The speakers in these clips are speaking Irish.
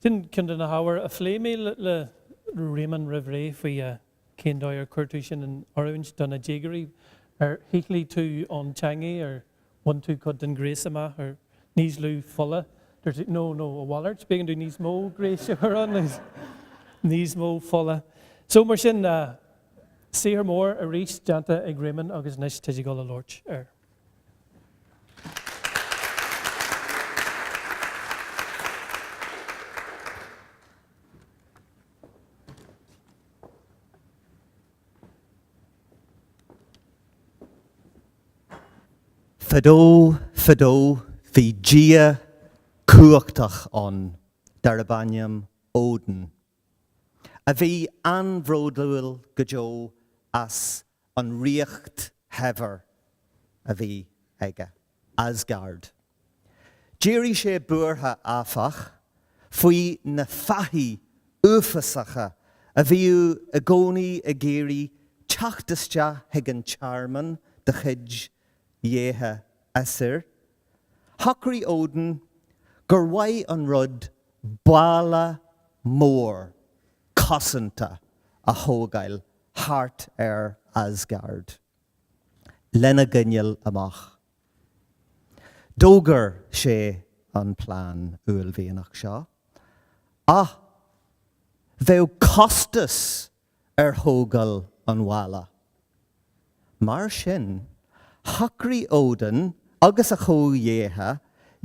Sin ceann de na hábhair a phléigh mé le Réamonn roimh ré faoi cén dóigh ar chuir tú sin in oiriúint do na déagóirí. Ar shíothlaigh tú an teangaidh, ar bhain tú cuid den ghréas amach, ar níos lú fola? Dúirt, No, no, a mhalairt, b'éigean dúinn níos mó gréis a chur ann, níos mó fola. So, mar sin, Saothar mór arís déanta ag Réamonn agus anois tá sé ag dul a labhairt air. Fadó, fadó, bhí dia cumhachtach ann darb ainm Odin. a bhí an-bhródúil go deo as an ríocht shaibhir a bhí aige, Asgard. D'éirigh sé buartha, áfach, faoi na fathaigh uafásacha a bhíodh i gcónaí ag iarraidh teacht isteach chuig an tearmann de chuid dhéithe Aesir. Shocraigh Odin gur mhaith an rud balla mór cosanta a thógáil thart ar Asgard lena gcoinneáil amach. D'fhógair sé an plean uaillmhianach seo ach bheadh costas ar thógáil an bhalla. Mar sin, shocraigh Odin agus a chomhdhéithe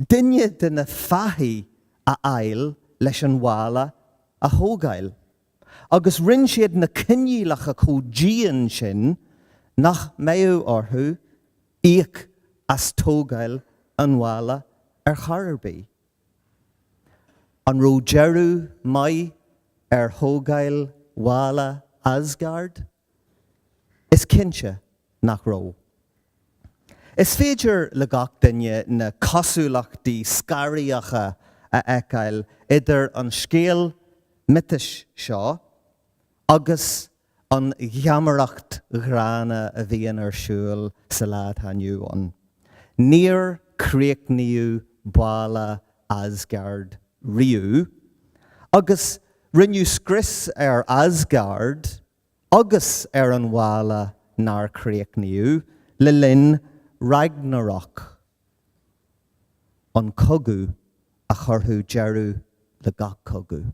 duine de na fathaigh a fháil leis an bhalla a thógáil, agus rinne siad na coinníollacha chomh dian sin nach mbeadh orthu íoc as tógáil an bhalla ar chor ar bith. An raibh deireadh maith ar thógáil bhalla Asgard? Is cinnte nach raibh. Is féidir le gach duine na cosúlachtaí scaraíocha a fheiceáil idir an scéal miotais seo agus an gheamaireacht ghránna a bhíonn ar siúl sa lá atá inniu ann. Níor críochnaíodh balla Asgard riamh, agus rinneadh scrios ar Asgard agus ar an bhalla nár críochnaíodh le linn Ragnarök, an cogadh a chuirfeadh deireadh le gach cogadh.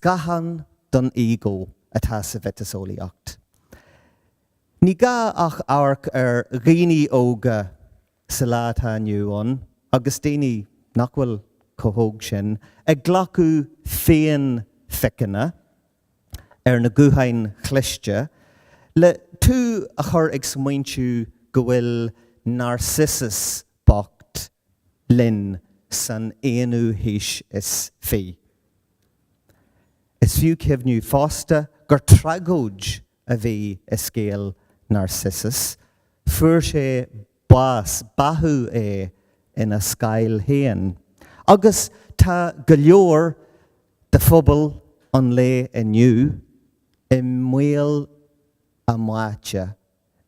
Scáthán don ego atá sa mhiotaseolaíocht. Ní gá ach amharc ar dhaoine óga sa lá atá inniu ann, agus daoine nach bhfuil chomh hóg sin, ag glacadh féinphiceanna ar na gutháin chliste, le tú a chur ag smaointiú go bhfuil Narcissus bocht linn san aonú haois is fi. Is fiú cuimhneamh fosta gur tragóid a bhí i scéal Narcissus, fuair sé bás, báthadh é ina scáil féin, agus tá go leor de phobal an lae inniu i mbaol a mbáite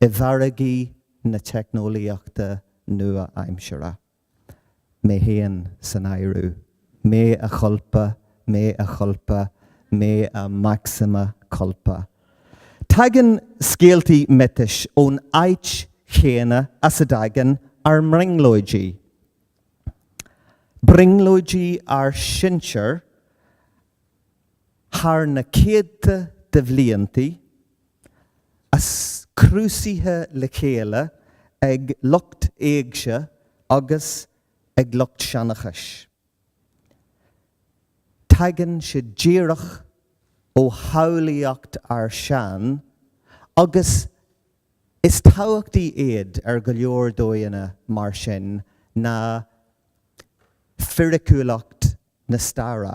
i bhfarraigí na teicneolaíochta nua-aimseartha. Mé féin san áireamh. Mea culpa, mea culpa, mea maxima culpa. Tagann scéaltaí miotais ón áit chéanna as a dtagann ár mbrionglóidí. Brionglóidí ár sinsear thar na céadta de bhliantaí, is crúsaithe le chéile ag lucht éigse agus ag lucht seanchais. Tagann sé díreach ó shamhlaíocht ár sean agus is tábhachtaí iad ar go leor dóigheanna mar sin ná fíriciúlacht na staire.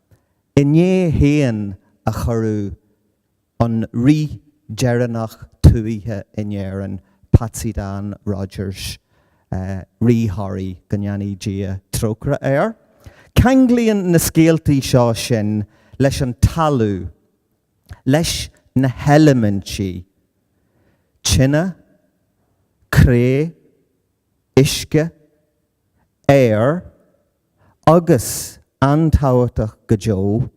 Inné féin a cuireadh an rí deireanach tuaithe in Éirinn, Patsy Dan Rodgers, Rí Thoraí, go ndéanaí Dia trócaire air. Ceanglaíonn na scéaltaí seo sinn leis an talamh, leis na heilimintí, tine, cré, uisce, aer agus, an-tábhachtach go deo,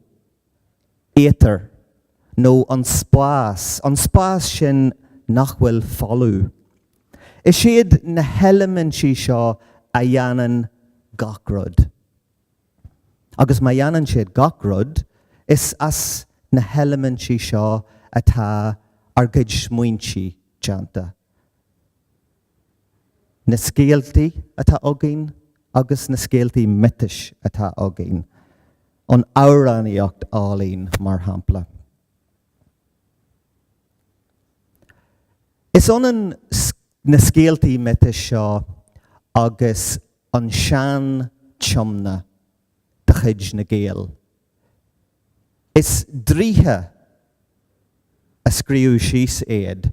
éitear, nó an spás, an spás sin nach bhfuil folamh. Is iad na heilimintí seo a dhéanann gach rud. Agus má dhéanann siad gach rud, is as na heilimintí seo atá ár gcuid smaointe déanta. na scéaltaí atá againn agus na scéaltaí miotais atá againn, an amhránaíocht álainn, mar shampla. Is ionann na scéaltaí miotais seo agus an sean-tiomna de chuid na nGael. Is draoithe a scríobh síos iad.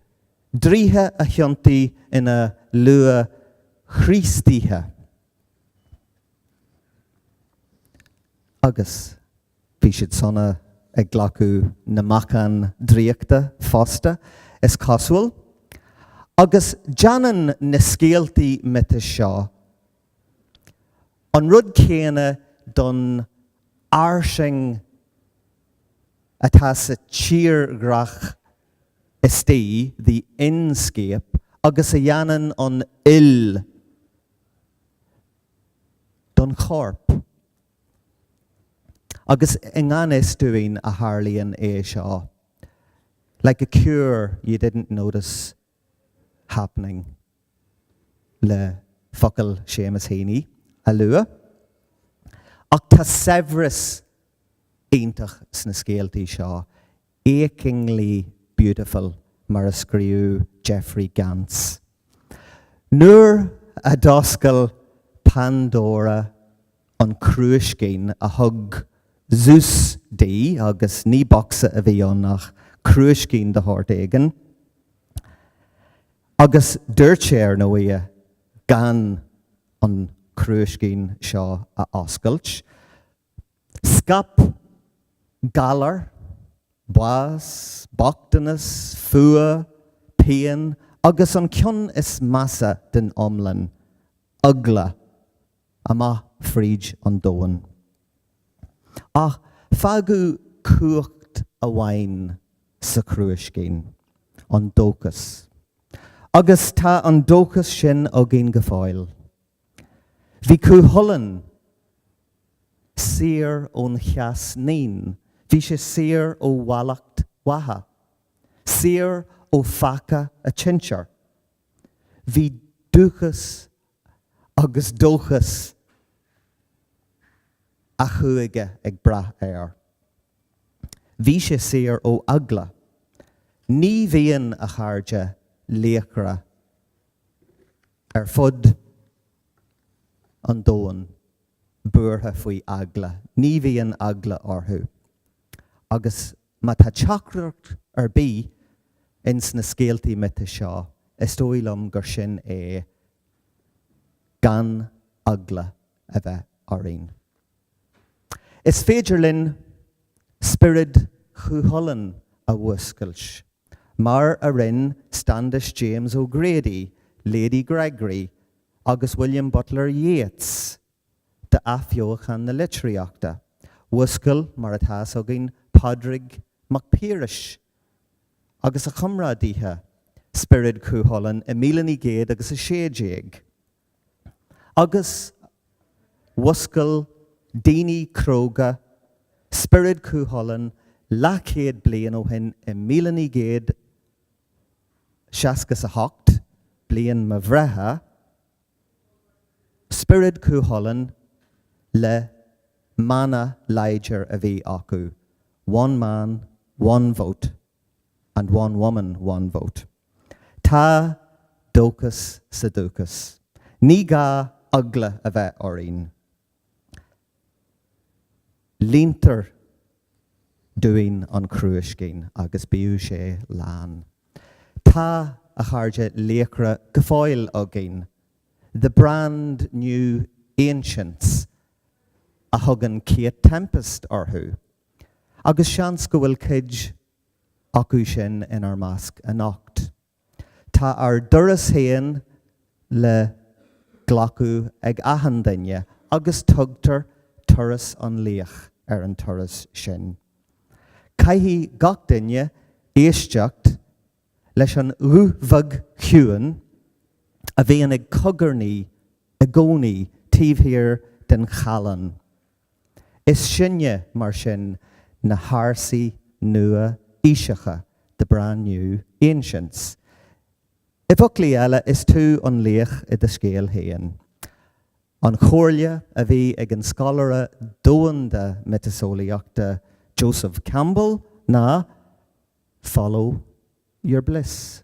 Draoithe a thiontaigh ina luath-Chríostaithe agus bhí siad sona ag glacadh na meacan draíochta fosta, is cosúil, agus déanann na scéaltaí miotais seo an rud céanna don fhairsinge atá sa tírdhreach istigh, the inscape, agus a dhéanann an fhuil don chorp. Agus i ngan fhios dúinn a tharlaíonn é seo, like a cure you didn't notice happening le focail Seamus Heaney a lua. Ach tá saibhreas iontach sna scéaltaí seo, achingly beautiful mar a scríobh Jeffrey Gantz. Nuair a d'oscail Pandora an crúiscín a thug Zeus di, agus ní bocsa a bhí ann ach crúiscín de shórt éigin, Agus dúirt sé, ar ndóigh, gan an crúiscín seo a oscailt, Scaip galar, bás, bochtanas, fuath, pian agus an cionn is measa den iomlán, eagla. amach fríd an domhan. Ach fágadh cumhacht amháin sa chrúiscín, an dóchas. Agus tá an dóchas sin againn go fóill. Bhí Cú Chulainn saor ón Cheas Naíon, bhí sé saor ó mhallacht Mhacha, saor ó pheaca an tsinsir. Bhí dúchas agus dóchas a chúige ag brath air. Bhí sé saor ó eagla. Ní bhíonn a chairde laochra ar fud an domhain buartha faoi eagla, ní bhíonn eagla orthu agus Má tá teachtaireacht ar bith ins na scéaltaí miotais seo, is dóigh liom gur sin é, gan eagla a bheith orainn. Is féidir linn spiorad Chúchulainn a mhúscailt, mar a rinn Standish James O'Grady, Lady Gregory agus William Butler Yeats de athbheochan na litríochta. Mhúscail, mar atá fhios againn, Pádraig Mac Piarais agus a chomrádaithe spiorad Chú Chulainn i míle naoi gcéad agus a sé déag agus mhúscail daoine cróga spiorad Chú Chulainn leathchéad bliain ó shin i míle naoi gcéad seasca 's a hocht, bliain mo bhreithe. Spiorad Cúchulainn le mana láidir a bhí acu, 'One man, one vote and one woman, one vote'. Tá dóchas sa dúchas. Ní gá eagla a bheith orainn. Líontar dúinn an crúiscín agus bíodh sé lán. Tá, a chairde, laochra go fóill againn, the brand new Ancients a thugann Kate Tempest orthu, agus seans go bhfuil cuid acu sin inár measc anocht. Tá ár dturas féin le glacadh ag achan duine agus tugtar Turas an Laoich ar an turas sin. Caithfidh gach duine éisteacht leis an ghuth bheag chiúin a bhíonn ag cogarnaí i gcónaí taobh thiar den challán. Is sinne, mar sin, na hársaí nua-aoiseacha, the brand new ancients. I bhfoclaí eile, is tú an laoch i do scéal féin. An chomhairle a bhí ag an scoláire domhanda miotaseolaíochta Joseph Campbell ná, Follow your bliss.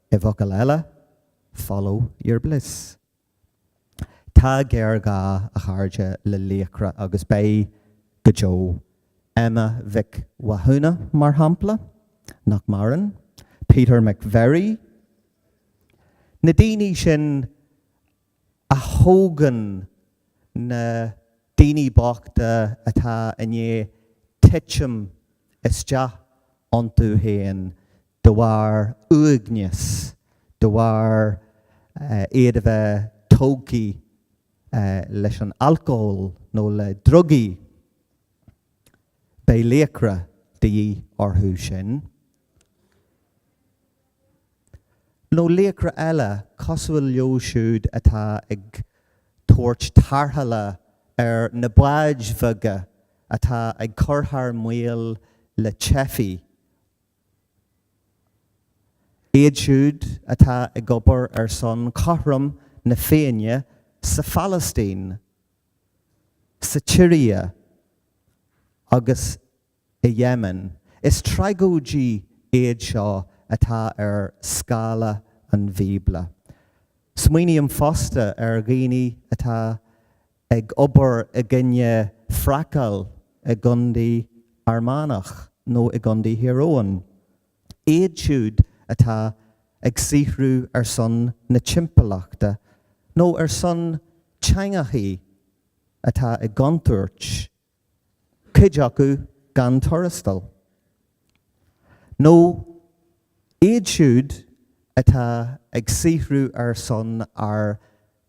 I bhfocail eile, follow your bliss. Tá géarghá, a chairde, le laochra agus beidh, go deo. Emma Mhic Mhathúna, mar shampla, nach maireann, Peter McVerry, na daoine sin a thógann na daoine bochta atá i ndiaidh titim isteach iontu féin de bharr uaigneas, de bharr iad a bheith tógtha leis an alcól nó le drugaí. Beidh laochra de dhíth orthu sin. nó laochra eile cosúil leo siúd atá ag tabhairt tarrthála ar na báid bheaga atá ag cur thar maoil le teifigh, iad siúd atá ag obair ar son chothrom na Féinne sa Phalaistín, sa tSiria agus i Yemen. Is tragóidí iad seo atá ar scála an Bhíobla. Smaoiním fosta ar dhaoine atá ag obair i gcoinne fracáil i gcontae Fhear Manach nó i gcontae Thír Eoghain, iad siúd atá ag saothrú ar son na timpeallachta nó ar son teangacha atá i gcontúirt. cuid acu gan tuarastal, nó iad siúd atá ag saothrú ar son ár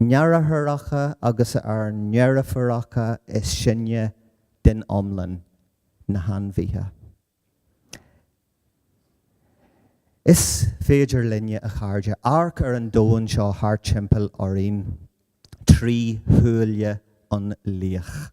ndeartháireacha agus ár ndeirfiúracha is sine den iomlán, na hainmhithe. Is féidir linne, a chairde, amharc ar an domhan seo thart timpeall orainn trí shúile an laoich.